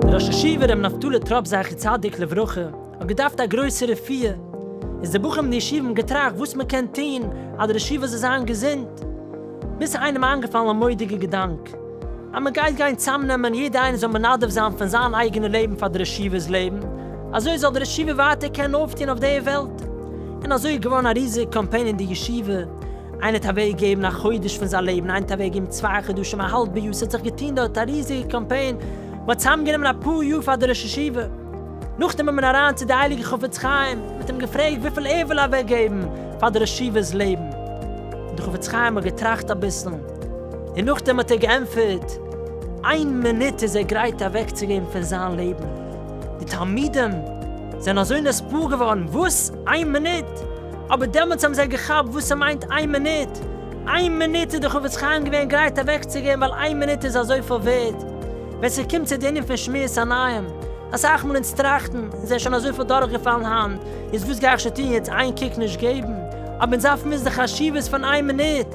דער ראש ישיבה ר' נפתלי טראפ זכר צדיק לברכה האט געדארפט א גרויסע רפואה, איז די בחורים אין די ישיבה האבן געטראכט וואס מען קען טון אז די ראש ישיבה זאל זיין געזונט, ביז ס'איז איינעם איינגעפאלן א מודיגע געדאנק. אז מען גייט גיין צאמנעמען יעדע איינער זאל מנדב זיין פון זיין אייגענע לעבן פאר דער ישיבה'ס לעבן, אזוי זאל דער ישיבה ווייטער קענען אויפטון אויף די וועלט, און אזוי איז געווארן א ריזיג קאמפיין אין די ישיבה, איינער האט אוועק געגעבן א חודש פון זיין לעבן, איינער האט אוועק געגעבן צוויי חדשים, א האלבע יאר, ס'האט זיך געטון דארט א ריזיגע קאמפיין, מען האט צאמגענומען א פאר יאר פאר דער ראש ישיבה, נאכדעם איז מען אריין צו די הייליגע חפץ חיים, מען האט אים געפרעגט וויפיל ער וויל אוועק געבן פאר דער ישיבה'ס לעבן, און דער חפץ חיים האט געטראכט אביסל, און נאכדעם האט ער געענטפערט, איין מינוט איז ער גרייט אוועקצוגעבן פון זיין לעבן. די תלמידים זענען אזוי נספּער געווארן, וואס? איין מינוט? אבער דעמאלטס האבן זיי געכאפט וואס ס'מיינט איין מינוט, איין מינוט איז די חפץ חיים געווען גרייט אוועקצוגעבן ווייל איין מינוט איז אזויפיל ווערד. ווען ס'קומט צו די ענין פון שמירת עיניים, אסאך מאל אונז טראכטן, אונז זענען שוין אזויפיל דורכגעפאלן היינט, איז וואס גיי איך שוין טון יעצט איין קוק נישט געבן, אבער אונז דארפן וויסן די חשיבות פון איין מינוט,